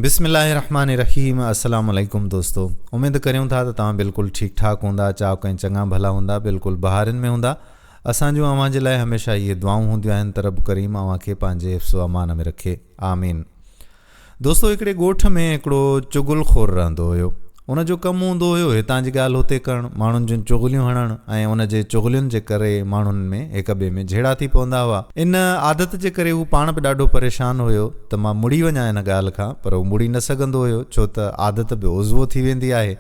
بسم الله الرحمٰن الرحيم السلام عليڪم دوستو اميد ڪريون ٿا ته توهان بلڪل ٺيڪ ٺاڪ هوندا چاق ۽ چڱا ڀلا هوندا بلڪل بهارين ۾ هوندا اسان جون اوهان جي لاء هميشه اهي دعائون هونديون آهن ته رب ڪريم اوهان کي پنهنجي حفظ و امان ۾ رکي آمين دوستو هڪڙي ڳوٺ ۾ هڪڙو چغل خور رهندو هيو هن جو ڪم هوندو هيو هتان جي ڳالهه هتي ڪرڻ، ماڻهن جون چغليون هڻڻ ۽ ان جي چغلين جي ڪري ماڻهن ۾ هڪ ٻئي ۾ جهيڙا ٿي پوندا هئا. ان عادت جي ڪري هو پاڻ به ڏاڍو پريشان هيو ته مان مڙي وڃان ان ڳالهه کان پر هو مڙي نه سگهندو هيو ڇو ته عادت به عضوو ٿي ويندي آهي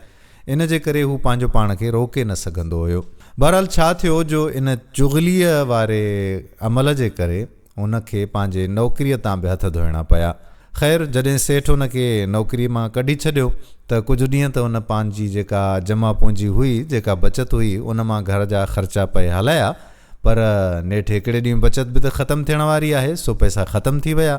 ان جي ڪري هو پنهنجو پاڻ کي روڪي نه سگهندو هيو. بهرحال ڇا ٿيو جو ان چغليء واري عمل جي ڪري، هن کي پنهنجي نوڪريء تان به هٿ ڌوئڻا پيا. خير، جڏهن سيٺ هن کي نوڪريء مان ڪڍي ڇڏيو ته ڪجهه ڏينهن ته هن پنهنجي جيڪا جمع پونجي هئي، جيڪا بچت هئي، ان مان گهر جا خرچا پئي هلايا، پر نيٺ هڪڙي ڏينهن بچت به ته ختم ٿيڻ واري آهي، سو پئسا ختم ٿي ويا.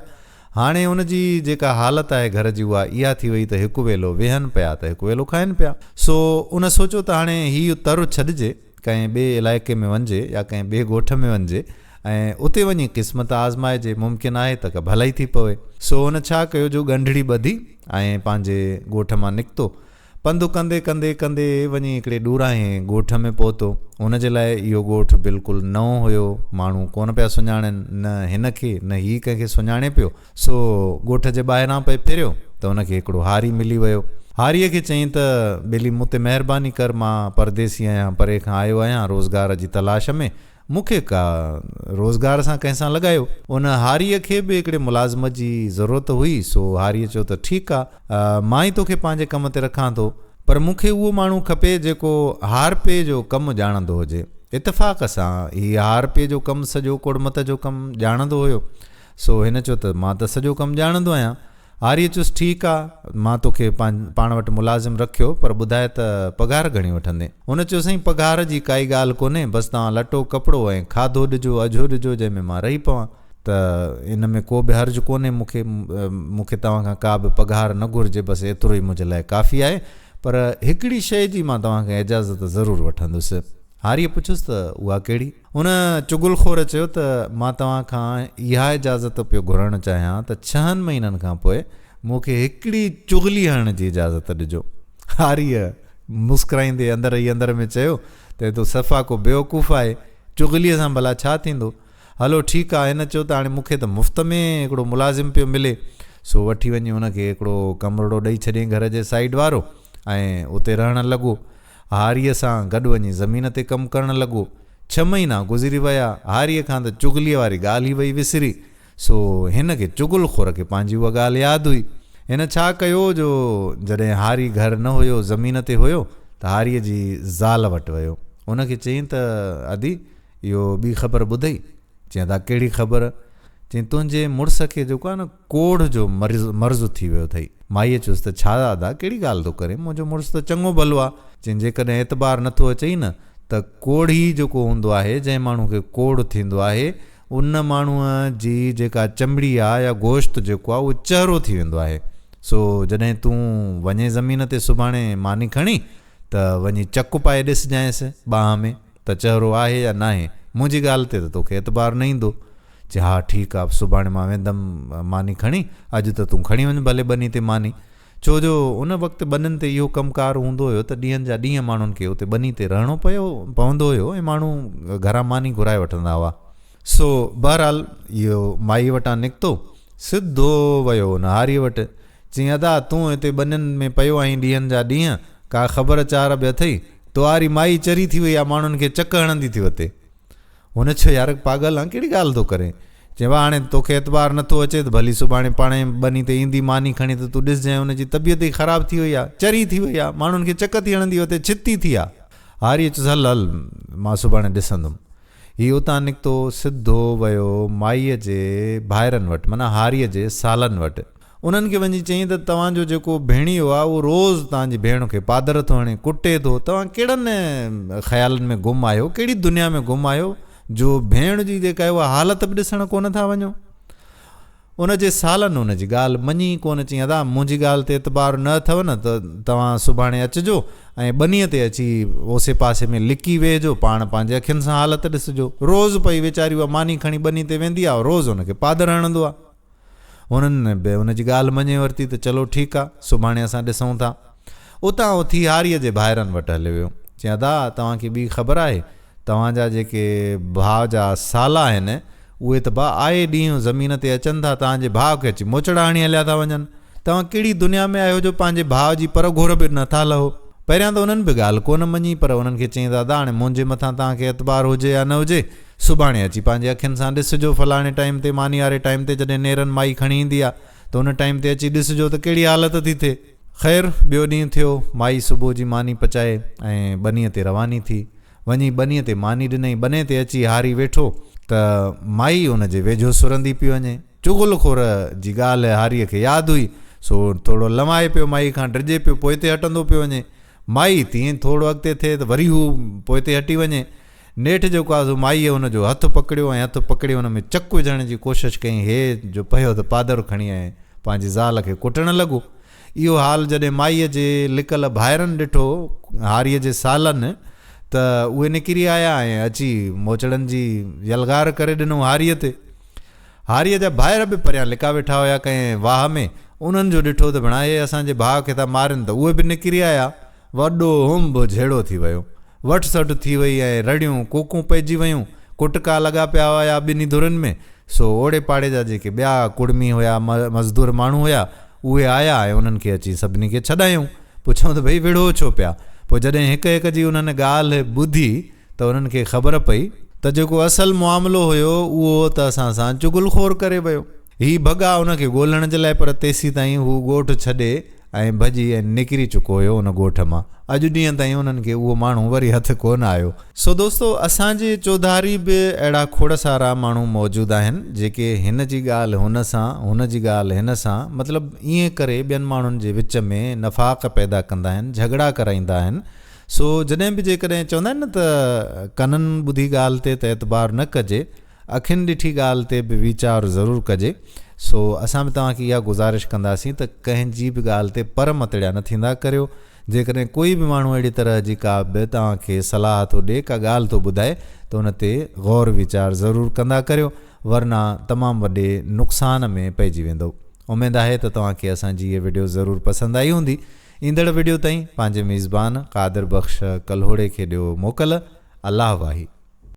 هاڻي هن جي جيڪا حالت آهي گهر جي اها اها ٿي وئي ته هڪ ويلو ويهن پيا ته هڪ ويلو کائن پيا. سو هن سوچيو ته هاڻي هيء تر ڇڏجي. ڪنهن ٻئي علائقي ۾ وڃجي يا ڪنهن ٻئي ڳوٺ ۾ وڃجي ۽ اتي وڃي قسمت آزمائجي، ممڪن آهي ته ڪا ڀلائي ٿي پوي. سو هن ڇا ڪيو جو ڳنڍڙي ٻڌي ۽ پنهنجي ڳوٺ مان نڪتو. پنڌ ڪندي ڪندي ڪندي وڃي هڪڙي ڏوراهين ڳوٺ ۾ پهتو. هن جي لاء اهو ڳوٺ بلڪل نئون هيو، ماڻهو ڪونه پيا سڃاڻن، نه هن کي نه هي ڪنهن کي سڃاڻي پيو. سو ڳوٺ جي ٻاهران پئي ڦريو ته ان کي هڪڙو هاري ملي ويو. هاريء کي چيائين ته، ٻيلي مون تي مهرباني ڪر، مان پرديسي آهيان، پري کان آيو آهيان روزگار جي تلاش ۾، مون کي ڪا روزگار سان ڪنهن سان لڳايو. ان هاريء کي به هڪڙي ملازمت جي ضرورت هئي، سو هاريء چيو ته، ٺيڪ آ، مان ئي توکي پنهنجي ڪم تي رکان ٿو، پر مون کي اهو ماڻهو کپي جيڪو هارپي جو ڪم ڄاڻندو هجي. اتفاق سان هي هارپي جو ڪم سڄو ڪوڙمت جو ڪم ڄاڻندو هيو. سو هن چيو ته مان ته سڄو ڪم ڄاڻندو آهيان. آريه چيس ٺيڪ آ، مان توکي پاڻ وٽ ملازم رکيو، پر ٻڌاء ته پگهار گهڻي وٺندين؟ هن چيو سائين پگهار جي ڪائي ڳالهه ڪونهي، بس توهان لٽو ڪپڙو ۽ کاڌو ڏجو، اجهو ڏجو، جنهن ۾ مان رهي پوان ته ان ۾ ڪو به حرج ڪونهي مون کي، مون کي توهان کان ڪا به پگهار نه گهرجي، بس ايترو ئي منهنجي لاء ڪافي آهي، پر هڪڙي شيء جي مان توهان کان اجازت ضرور وٺندس. هاريء پڇيس ته اها ڪهڙي؟ ان چغل خور چيو ته مان توهان کان اها اجازت پيو گهرڻ چاهيان ته ڇهن مهينن کان پوء مون کي هڪڙي چغلي هڻڻ جي اجازت ڏجو. هاريء مسڪرائيندي اندر ئي اندر ۾ چيو ته هي تو صفا ڪو بيوقوف آهي، چغليء سان ڀلا ڇا ٿيندو؟ هلو ٺيڪ آ، هن چيو ته هاڻي مون کي ته مفت ۾ هڪڙو ملازم پيو ملي، سو وٺي وڃي ان کي هڪڙو ڪمرڙو ڏئي ڇڏين گهر جي سائيڊ وارو ۽ اتي رهڻ لڳو. هاريء سان گڏ وڃي زمين تي ڪم ڪرڻ لڳو. ڇهه مهينا گذري ويا. هاريء کان ته چغليء واري ڳالهه ئي وئي وسري. سو هن کي چغل خور کي پنهنجي اها ڳالهه ياد هئي. هن ڇا ڪيو جو جڏهن هاري گهر نه هيو، زمين تي هيو، ته هاريء جي زال وٽ ويو. ان کي چيائين ته ادي، اهو ٻي خبر ٻڌئي؟ چيائين ته اها ڪهڙي خبر؟ چيائين تنهنجي مڙس کي جيڪو آهي نه، ڪوڙهه جو مرض مرض ٿي ويو اٿئي. مائيء چيس ته ڇا ادا ڪهڙي ڳالهه ٿو ڪرين، منهنجو مڙس ته چڱو ڀلو آ. چين جيڪڏهن اعتبار نه ٿو اچئي نه ته ڪوڙهي جيڪو هوندو آهي، جنهن ماڻهو کي ڪوڙهه ٿيندو آهي، ان ماڻهوء جي جيڪا چمڙي آ يا گوشت جيڪو آ، اهو چهرو ٿي ويندو آهي. سو جڏهن تون وڃين زمين تي سڀاڻي ماني کڻي ته وڃي چڪ پائي ڏسجانئس ٻانهن ۾. ته چهرو آهي يا ناهي، منهنجي ڳالهه تي ته توکي اعتبار نه ايندو. چي، ها ٺيڪ آ، سڀاڻي مان ويندم ماني کڻي، اڄ ته تون کڻي وڃ ڀلي ٻني تي ماني. ڇو جو ان وقت ٻنين تي اهو ڪم ڪار هوندو هيو ته ڏينهن جا ڏينهن ماڻهن کي اتي ٻني تي رهڻو پيو پوندو هيو ۽ ماڻهو گهران ماني گهرائي وٺندا هئا. سو بهرحال اهو مائيء وٽان نڪتو، سڌو ويو نهاريء وٽ، چيائين، ادا، تون هتي ٻنين ۾ پيو آهين ڏينهن جا ڏينهن، ڪا خبر چار به اٿئي؟ تئواري مائي چري ٿي وئي آ، ماڻهن کي چڪ هڻندي ٿي وتي. هن چيو، يار، پاڳل آن، ڪهڙي ڳالهه ٿو ڪرين؟ چيائين، واهه، هاڻي تو کي اعتبار نه ٿو اچي ته ڀلي سڀاڻي پاڻهي ٻني تي ايندي ماني کڻي ته تون ڏسجانء، ان جي طبيعت ئي خراب ٿي وئي آ، چري ٿي وئي آ، ماڻهن کي چڪ ٿي هڻندي وتي، ڇتي ٿي آ. هاريء چيس، هل، هل، مان سڀاڻي ڏسندم. هي اتان نڪتو سڌو ويو مائيء جي ڀائرن وٽ معنيٰ هاريء جي سالن وٽ. انهن کي وڃي چيائين ته توهان جو جيڪو ڀيڻيو آهي اهو روز توهان جي ڀيڻ کي پادر ٿو هڻي، ڪٽي ٿو، توهان ڪهڙن خيالن ۾ گم آهيو، ڪهڙي دنيا ۾ گم آهيو جو ڀيڻ جي جيڪا آهي اها حالت به ڏسڻ ڪونه ٿا وڃو. ان جي سالن ان جي ڳالهه مڃي ئي ڪونه چيائين، ادا منهنجي ڳالهه تي اعتبار نه اٿئو نه ته توهان سڀاڻي اچجو ۽ ٻنيء تي اچي اوسي پاسي ۾ لڪي ويهجو، پاڻ پنهنجي اکين سان حالت ڏسجو. روز پئي ويچاري اها ماني کڻي ٻني تي ويندي آهي، روز ان کي پادر هڻندو آهي. هنن به ان جي ڳالهه مڃي ورتي ته چلو ٺيڪ آهي، سڀاڻي اسان ڏسون ٿا. اتان اٿي هاريء جي ڀائرن وٽ هليو ويو. چيائين، ادا توهان کي ٻي خبر آهي؟ توهان جا جيڪي ڀاء جا سالا آهن، اهي ته با آئي ڏينهن زمين تي اچن ٿا، توهان جي ڀاء کي اچي موچڙا هڻي هليا ٿا وڃن. توهان ڪهڙي دنيا ۾ آهيو جو پنهنجي ڀاء جي پر گهور به نه ٿا لهو. پهريان ته انهن به ڳالهه ڪونه مڃي، پر انهن کي چيائين دادا هاڻي منهنجي مٿان توهان کي اعتبار هجي يا نه هجي، سڀاڻي اچي پنهنجي اکين سان ڏسجو، فلاڻي ٽائيم تي ماني واري ٽائيم تي جڏهن نيرن مائي کڻي ايندي آ ته ان ٽائيم تي اچي ڏسجو ته ڪهڙي حالت ٿي ٿئي. خير ٻيو ڏينهن ٿيو، مائي صبح جي ماني پچائي ۽ ٻنيء تي رواني ٿي. وڃي ٻنيء تي ماني ڏنئي. ٻني تي اچي هاري ويٺو ته مائي ان جي ويجهو سرندي پئي وڃي. چغل خور جي ڳالهه هاريء کي ياد هئي، سو ٿورڙو لنوائي پيو مائيء کان ڊڄي پيو پوئتي هٽندو پيو وڃي. مائي تيئن ٿورڙو اڳتي ٿئي ته وري هو پوئتي هٽي وڃي. نيٺ جيڪو آزو مائيء هن جو هٿ پڪڙيو ۽ هٿ پڪڙي هن ۾ چڪ وجهڻ جي ڪوشش ڪيائين هيء جو پهيو ته پادر کڻي ۽ پنهنجي زال کي ڪٽڻ لڳو. اهو حال جڏهن مائيء جي لڪل ڀائرن ڏٺو هاريء جي سالن ته اهي نڪري آيا ۽ اچي موچڙن جي يلغار ڪري ڏنو هاريء تي. هاريء جا ڀائر به پريان لڪا ويٺا هيا ڪنهن واهه ۾، انهن جو ڏٺو ته ڀيڻا هي اسان جي ڀاء کي ٿا مارين ته اهي به نڪري آيا. وڏو هوم به جهيڙو ٿي ويو. وٺ سٽ ٿي وئي ۽ رڙيون ڪوڪون پئجي ويون. ڪٽڪا لڳا پيا هيا ٻنهي ڌرين ۾. سو اوڙي پاڙي جا جيڪي ٻيا ڪڙمي هيا، مزدور ماڻهو هيا، اهي آيا ۽ انهن کي اچي سڀني کي ڇڏايائون. پڇيائون ته ڀئي وڙهو ڇو پيا؟ پوء جڏهن هڪ هڪ جي انهن ڳالهه ٻڌي ته انهن کي خبر پئي. ته جيڪو اصل معاملو هيو اهو هو ته اسان سان چغل خور ڪري ويو. هي ڀڳا هن کي ڳولڻ جي لاء پر تيسيتائين هو ڳوٺ ڇڏي ۽ ڀڄي ۽ نڪري چڪو هيو ان ڳوٺ مان اڄ ڏينهن تائين انهن کي اهو ماڻهو وري هٿ ڪونه آيو. سو دوستو اسان جي چوڌاري به اهڙا کوڙ سارا ماڻهو موجود آهن جيڪي هن جي ڳالهه هن سان هن جي ڳالهه هن سان مطلب ائين ڪري ٻين ماڻهن جي وچ ۾ نفاق پيدا ڪندا آهن جهڳڙا ڪرائيندا آهن سو جڏهن به جيڪڏهن چوندا آهن نه ته ڪنن ٻڌي ڳالهه تي ته اعتبار نه ڪجي اکين ڏٺي ڳالهه تي به ويچار ضرور ڪجي سو اسان به توهان کي اها گذارش ڪنداسين ته ڪنهن جي به ڳالهه تي پر متڙيا نه ٿيندا ڪريو جيڪڏهن ڪوئي به ماڻهو اهڙي طرح جي ڪا به توهان کي صلاح ٿو ڏي ڪا ڳالهه ٿو ٻڌائي ته ان تي غور ويچار ضرور ڪندا ڪريو ورنه تمام وڏي نقصان ۾ پئجي ويندؤ اميد آهي ته توهان کي اسان جي هي وڊيو ضرور پسند آئي هوندي ايندڙ وڊيو تائين پنهنجي ميزبان قادر بخش ڪلهوڙي کي ڏيو موڪل الله واهي.